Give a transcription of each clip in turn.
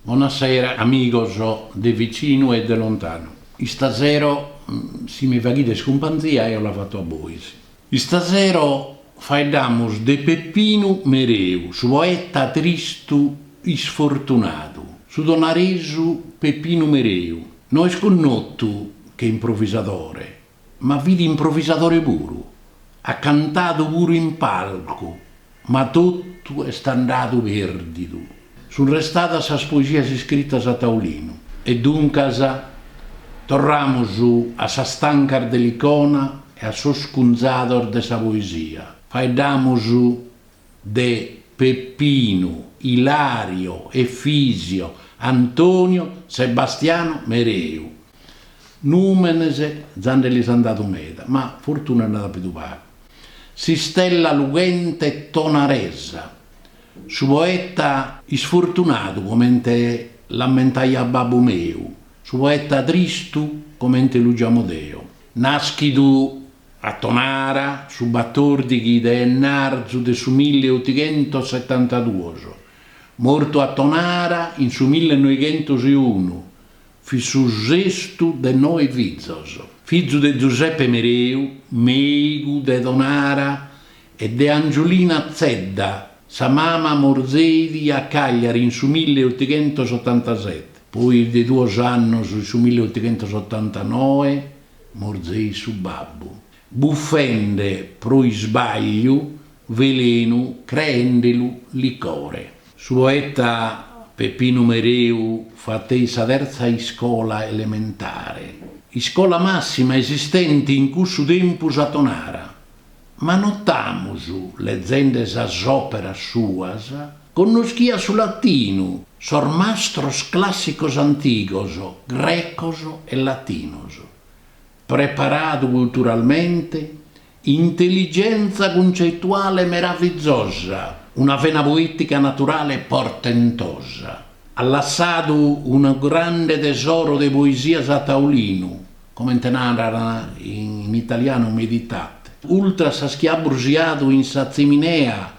Bonasera amigos de vicinu e de lontanu. Istasero si mi faghides cumpanzia eo la fato a bois. Istasero faeddamus de Peppinu Mereu, su poeta tristu isfortunadu. Su tonaresu Peppinu Mereu no est connotu che improvisadore, Ma fit improvisadore puru, at cantadu puru in palcu, ma totu est andadu pèrdidu. Sunt restadas sas poesias iscritas a taulinu. E duncas, torramus a sas tancas de Licona e a sos cunzados de sa poesia, faeddamus de Peppinu, Ilario, Efisio, Antonio, Sebastiano, Mereu. Nùmenes già nde li an dadu meda, ma fortuna nd'at apidu pagu. S'istella lughente tonaresa. Su poeta. Isfortunadu comente l'ammentaiat babbu meu, su poeta tristu comente lu giamo deo. Nàschidu A Tonara, su batòrdighi de enarzu de su milli otighentos setantaduos, mortu a Tonara in su milli noighentos e unu, fit su sestu de noe fizos. Fizu de Giuseppe Mereu, mèigu de Tonara, e de Angiolina Zedda, sa mama morzeit a Cagliari in su milli otighentos otantaseti, poi de duos annos in su milli otighentos otantanoe, Morzeit su babbu, bufende pro isbagliu velenu creendelu licore. Su poeta Peppinu Mereu fateit sa terza iscola elementare, iscola massima esistente in cussu tempus a Tonara, ma notamus, lezende sas òperas suas, connoschiat su latinu, sos mastros clàssicos antigos, grecos e latinos. Preparadu culturalmente, intelligentza cuncetuale meravizosa, una vena poètica naturale portentosa. At lassadu unu grande tesoro de poesias a taulinu, comente naran in italianu meditate. Ultras sas chi at brusiadu in sa tziminea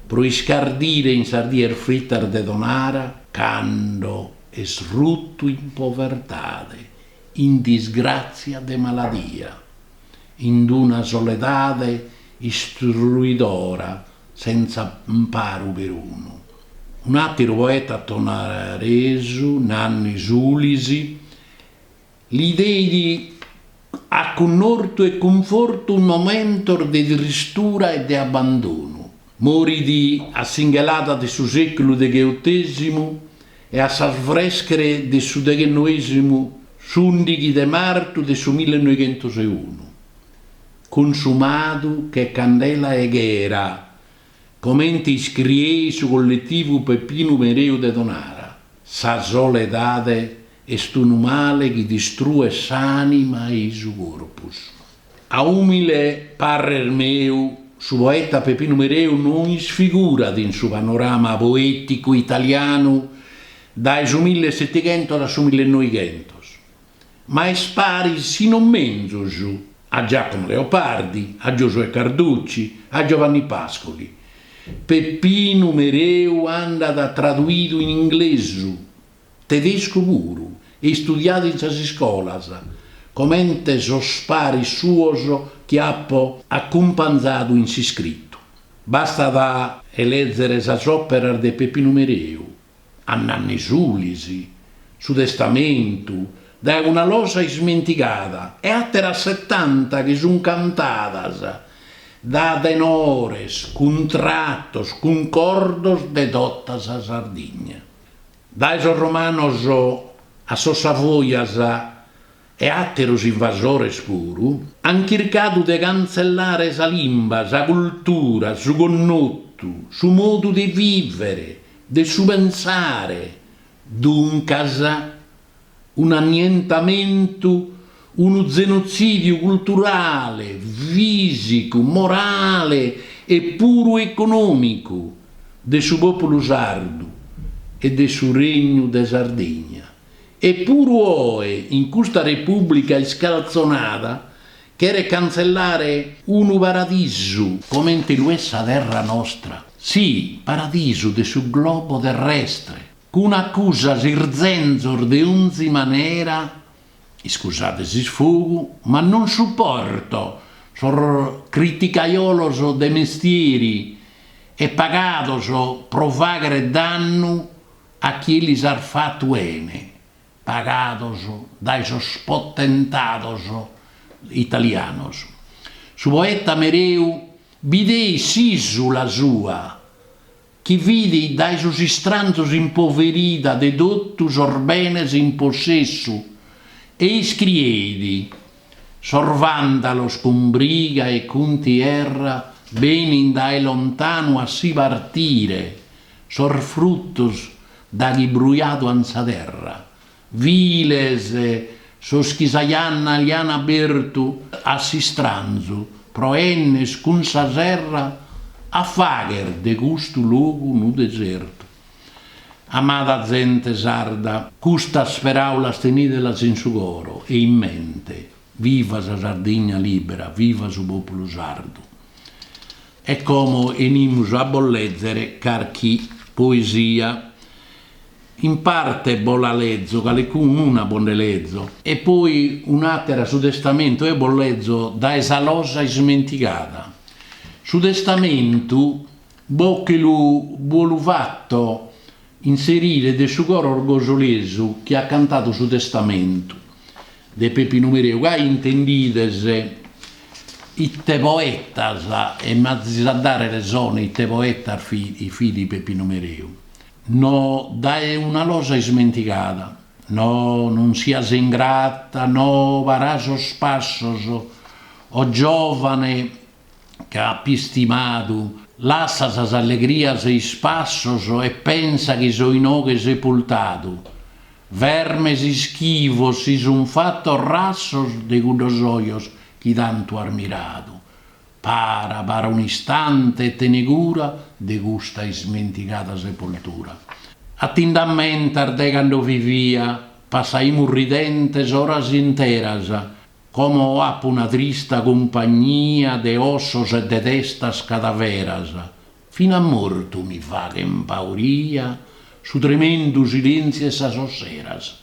pro iscardire in sas dies fritas de Tonara. Cando est rutu in povertade, in disgràtzia de maladia, in d-una soledade istruidora senza amparu perunu. Un'àteru poeta tonaresu, Nanni Sulisi, Li deit acunnortu e cunfortu in momentos de tristura e de abandonu. Morit a s'inghelada de su sèculu degheotesimu e a s'arbèschere de su deghennoesimu s'ùndighi de martu de su millenoighentos e unu, cunsumadu che candela 'e ghera, comente iscrieit su colletivu Peppinu Mereu de Tonara, sa soledade Est unu male chi distruet s'ànima e i su corpus. A ùmile parrer meu, su poeta Peppinu Mereu no isfigurat in su panorama poèticu italianu dae su millesetighentos a su millenoighentos, ma est paris si non menzus a Giacomo Leopardi, a Giosuè Carducci, a Giovanni Pascoli. Peppinu Mereu andat traduidu in inglesu. Tedescu puru, e istudiadu in sas iscolas, comente sos paris suos chi apo acumpanzadu in s'iscritu. Bastat a lèzere sas òperas de Peppinu Mereu, A Nanni Sulis, Su testamentu, Dae una losa ismentigada e àteras setanta chi sun cantadas dae tenores, cuntratos, cuncordos de tota sa Sardigna. Dae sos Romanos a sos Savojas e àteros invasores puru, an chircadu de cantzellare sa limba, sa cultura, su connotu, su modu de vìvere, de su pensare, duncas, un'annientamentu, unu zenotzidiu culturale, fìsicu, morale e puru econòmicu de su pòpulu sardu e de su Regnu de Sardegna. E puru oe in custa Repùblica iscaltzonada cheret cantzellare unu paradisu, comente lu est sa terra nostra, si, paradisu de su globo terrestre, cun acusas, irzenzos de onzi manera, iscusade s'isfogu, ma non suporto sos criticajolos de mestieri e pagados pro faghere dannu a chie lis at fatu 'ene, pagados dae sos potentados italianos. Su poeta Mereu bideit s'isula sua. chi fit dae sos istranzos impoverida de totu sos benes in possessu, e iscrieit, Sos vandalos cun briga e cuntierra benin dae lontanu a si partire sos fruttos daghi brujadu an sa terra, Viles, sos chi sa janna li an abertu a s'istranzu pro 'enner cun sa serra a fagher de custu logu unu desertu. Amada zente sarda, custas peraulas tenidelas in su coro e in mente, viva sa Sardigna libera, viva su populu sardu. E como 'enimus a bos lèzere carchi poesia. In parte bos la lezo, calicun'una bos nde lezo. E poi un'àtera su testamentu, eo bos lezo dae sa losa ismentigada. Su testamentu bos che lu bolu fatto inserire de su coro orgosolesu chi at cantadu su testamentu. De Pepinu Mereu ca intendides ite poetas e m'azis a dare resone ite poetas fit Pepinu Mereu. No dae una losa ismentigada, no non sias ingrata, no para sos passos, o giovane chi apo istimadu. Lassa sas allegrias e ispassos e pensa chi so inoghe sepultadu. Vermes ischivos si sun fatos rassos de cuddos ojos chi tantu as miradu. Para, para un'istante e tene cura de custa ismentigada sepoltura. A ti nd'ammentas de cando vivia, passaimus ridentes oras interas, Como apo una trista cumpagnia de ossos e de testas cadaveras, fin'a mortu mi faghen pauria su tremendu silentziu 'e sas osseras.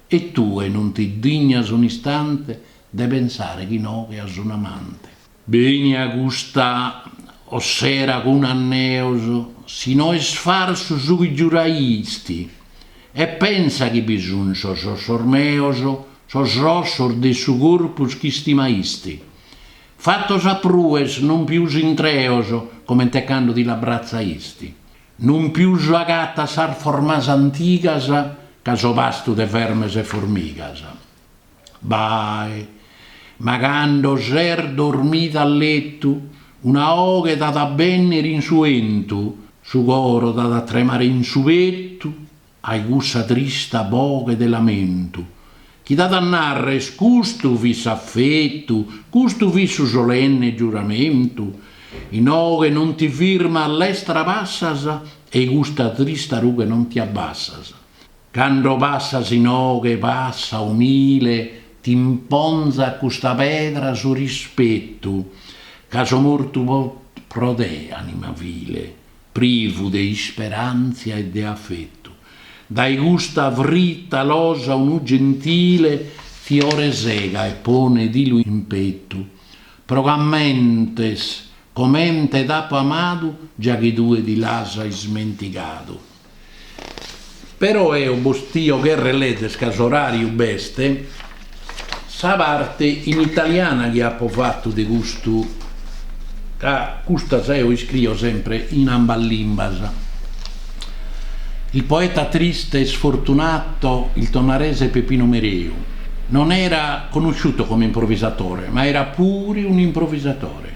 E tue non ti dignas un'istante de pensare chi inoghe as un amante. Beni a custa ossera cun anneos, si no est farsu su chi giuraisti, e pensa chi bi sunt sos ossos meos, sos ossos de su corpus chi istimaisti, fatos a pruer, non pius intreos, comente cando ti l'abratzaisti, non pius agatas sas formas antigas ca so pastu de vermes e formigas. Bae. Ma cando ses dormida a letu, una 'oghe t'at a bènnere in su 'entu, su coro t'at a tremare in su petu, ai cussa trista boghe de lamentu, chi t'at a narrer custu fit s'affetu, custu fit su solenne giuramentu, inoghe non ti firmas, lestra passas e 'i custa trista rughe non ti abbassas. Cando passas in oghe passa umile t'imponzat custa pedra su rispetu ca so mortu pro te anima vile privu de isperantzia e de afetu dae custa fritta losa unu gentile fiore sega e ponedilu in petu pro c'ammentes comente t'apo amadu già chi tue ti l'as ismentigadu. Però eo bos tio cherrer lezer ca s'oràriu b'est sa parte in italiana chi apo fatu de custu ca custas eo iscrio sempre in ambas limbas. Il poeta triste e sfortunato, il tonarese Peppino Mereu, non era conosciuto come improvvisatore, ma era pure un improvvisatore.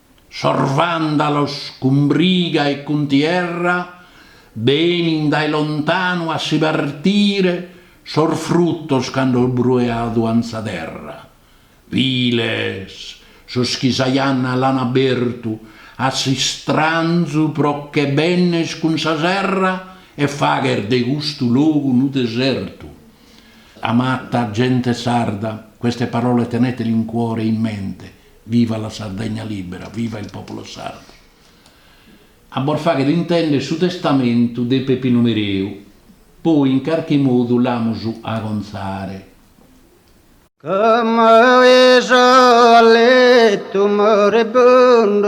Sos vàndalos cun briga e cuntierra benin dae lontanu a si partire sos frutos cando brujadu ant sa terra. Viles sos chi sa janna l'an abertu a s'istranzu pro che benner cun sa serra e fagher de custu logu unu desertu. Amata gente sarda, queste parole tenetele in cuore e in mente, Viva la Sardegna libera, viva il popolo sardo. A bos fagher intender su testamentu de Pepinu Mereu, poi in carchi modu l'amus a acontzare. Ca m'aiso a letu moribundu.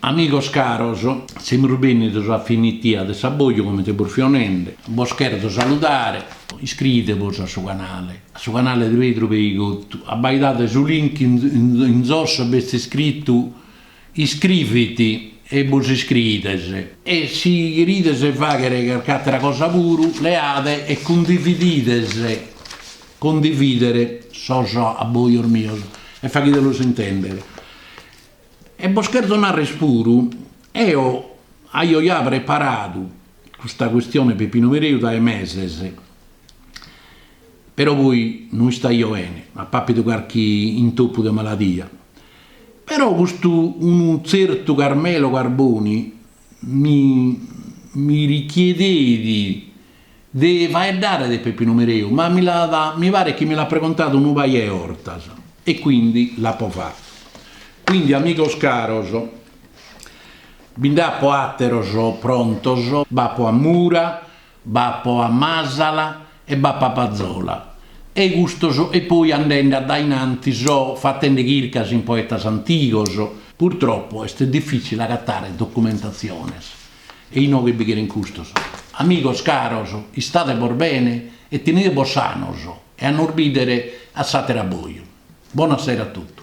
Amigos caros, semus bènnidos a finitia de s'abboju comente bos fio nende, bos cherzo saludare, iscriidebos a su canale, a su canale de Pedru Peigottu, abbaidade su link in in in zosso b'est iscrittu Iscrivit e bos iscriides. E si cherides fagher carc'àtera cosa puru, leade e cundividide cundivider sos abbojos mios e faghidelos intender. E bos cherzo narrer puru, eo aio ja preparadu custa custione Peppino Mereu dae meses, però poi no istaio bene, apo àpidu carchi intoppu de maladia, Però custu unu tzertu Carmelo Carboni mi mi richiedeit de faeddare de Peppinu Mereu, ma mi l'at mi paret chi mi l'at pregontadu unu paia 'e 'ortas e quindi l'apo fatu. Quindi amigos caros, bi nd'apo àteros prontos, b'apo a mura, B'apo a Masala e b'apo a Pazola, e custos, e poi andende a dae in antis so fatende chircas in poetas antigos. Purtropo est difitzile agatare documentatziones e inoghe bi cheren custos. Amigos caros, istade·bos bene e tenide·bos sanos e a nos bidere a s'àteru abboju. Bona sera a totu.